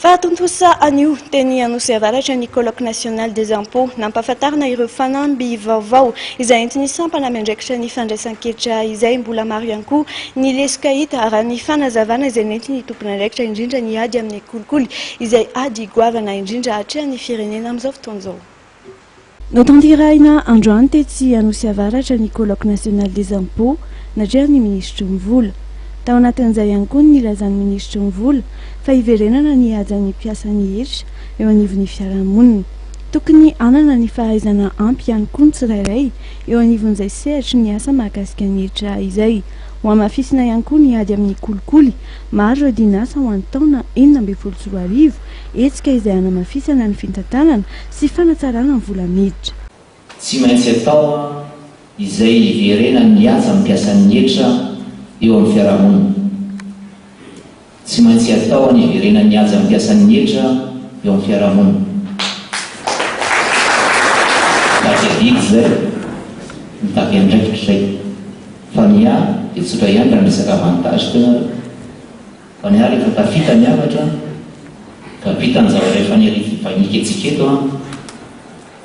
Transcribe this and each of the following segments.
Fahatontosa anio, teny Anosy Avaratra ny Colloque National des Impôts, nampahafantarina ireo fanamby vaovao izay entin'ny sampana miandraikitra ny fandraisan-ketra izay mbola maro ihany koa ny lesoka hita raha ny fanazavana izay nentin'ny tompon'andraikitra indrindra ny ady amin'ny kolikoly izay ady goavana indrindra atrehan'ny firenena amin'izao fotoana izao. Notanterahina androany tetsy Anosy Avaratra ny Colloque National des Impôts natrehan'ny Minisitry ny Vola. Tao anatin'izay ihany koa ny nilazan'ny Minisitry ny Vola fa hiverenana ny hajan'ny mpiasan'ny hetra eo anivon'ny fiarahamonina. Tokony hanana ny fahaizana ampy ihany koa ny tsirairay eo anivon'izay sehatry ny asa mahakasika ny hetra izay. Hohamafisina ihany koa ny ady amin'ny kolikoly. Maro ireo dinasa ho an'ny taona enina ambin'ny folo sy roa arivo, hetsika izay hanamafisana ny fitantanana sy fanatsarana ny vola miditra. Tsy maintsy atao izay hiverenan'ny mihaja amin'ny mpiasan'ny hetra eo amin'ny fiarahamonina. Tsy maintsy atao ny hiverenan'ny mihaja amin'ny mpiasan'ny hetra eo amin'ny fiarahamonina. Mitaky adidy izay, mitaky andraikitra izay. Fa ny ahy dia tsotra ihany raha miresaka avantage teo ianareo. Fa niala eto tafita ny hafatra ka bita ny zavatra efa niarifibainiko antsika eto an!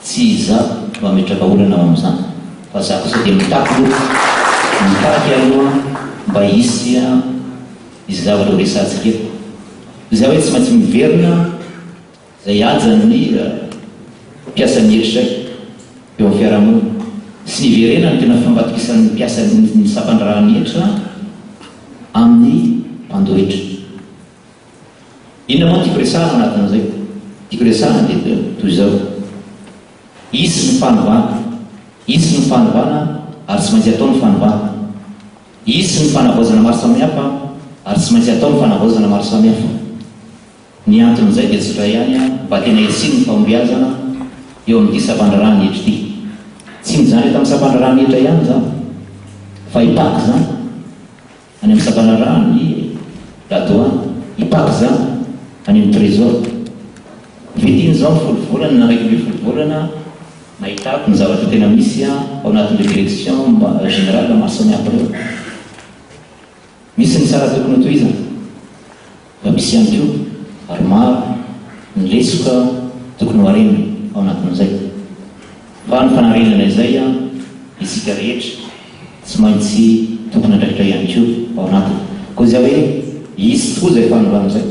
Tsy izaho no hametraka olana ao amin'izany fa za kosa dia mitaky loha mitaky aloha mba hisy hisy zavatra ho resahantsika eto. Izay hoe tsy maintsy miverina. Izay hajan'ny mira, mpiasan'ny herisraika eo amin'ny fiarahamonina, sy ny hiverenany no tena fambatokisan'ny mpiasa ny sampandraharahan'ny hetra amin'ny mpandohetra. Inona moa no tiako resahana ao anatin'izay? Tiako resahana dia toy izao, hisy ny fanovana, hisy ny fanovana ary tsy maintsy hatao ny fanovana, hisy ny fanavaozana maro samihafa ary tsy maintsy hatao ny fanavaozana maro samihafa. Ny anton'izay dia tsy dray ihany mba tena hisiany ny fahombiazana eo amin'ity sampandraharahan'ny hetra ity. Tsy mijanona eto amin'ny sampandraharahan'ny hetra ihany izany fa hipaka izany any amin'ny sampandraharahan'ny ladoany, hipaka izany any amin'ny Trésor. Vitin' izao ny folo volana na iraika ambin'ny folo volana nahitako ny zavatra tena misy ao anatin'ireo directions générales maro samihafa ireo. Misy ny sara tokony hotohizana fa misy ihany koa ary maro ny lesoka tokony hoharena ao anatin'izay. Fa ny fanarenana izay isika rehetra tsy maintsy tompon'andraikitra ihany koa ao anatiny. Koa izay hoe hisy tokoa izay fanovana izay.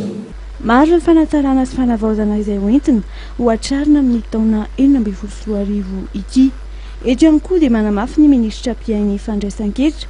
Maro ny fanatsarana sy fanavaozana izay hoentina hohatrarina amin'ny taona enina ambin'ny folo sy roa arivo ity. Eto ihany koa dia manamafy ny minisitra mpiahy ny fandraisan-ketra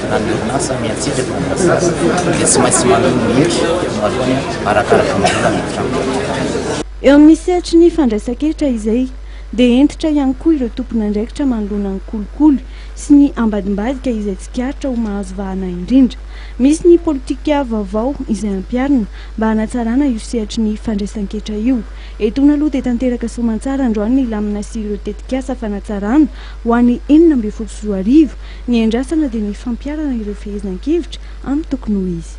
Raha ny orinasa miantsika eto Bokasasa dia tsy maintsy manohy ny hery voalohany arakaraka ny vola miditra amin'ny kaompania. Eo amin'ny sehatry ny fandraisan-kehitra izay dia hentitra ihany koa ireo tompon'andraikitra manoloana ny kolikoly sy ny ambadimbadika izay tsikaritra ho mahazo vahana indrindra. Misy ny politika vaovao izay ampiharina mba hanatsarana io sehatry ny fandraisan-ketra io. Etoana aloha dia tanteraka soamantsara androany ny lamina sy ireo tetikasa fanatsarana ho an'ny enina ambin'ny folo sy roa arivo. Ny andrasana dia ny fampiharana ireo fehezinan-kevitra amin'ny tokony ho izy.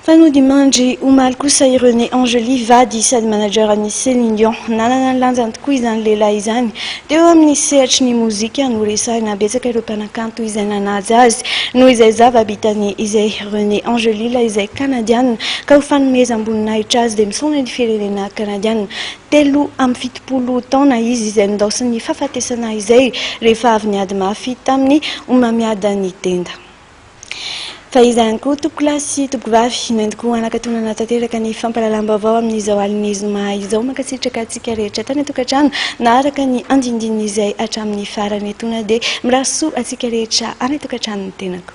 Fa nody mandry omaly kosa i René Angely, vady sady manager an'i Céline Dion. Nanana ny lanjany tokoa izany lehilahy izany. Teo amin'ny sehatry ny mozika no resahina betsaka ireo mpanakanto izay nanaja azy. Noho izay zava-bitany izay, René Angely, ilay izay Kanadiana, ka ho fanomezam-boninahitra azy dia misaona ny firenena Kanadiana. Telo amby fitopolo taona izy izay nindaosin'ny fahafatesana izay rehefa avy niady mafy tamin'ny homamiadan'i Denda. Fa iza ihany koa tompoko lahy sy tompoko vavy no entiko hanakatonana tanteraka ny fampahalalam-baovao amin'izao alin'ny zoma izao. Mankasitraka antsika rehetra tany an-tokantrano naharaka ny andindin'izay hatramin'ny farany. Etoana dia mirary soa antsika rehetra any an-tokantranon'ny tenako.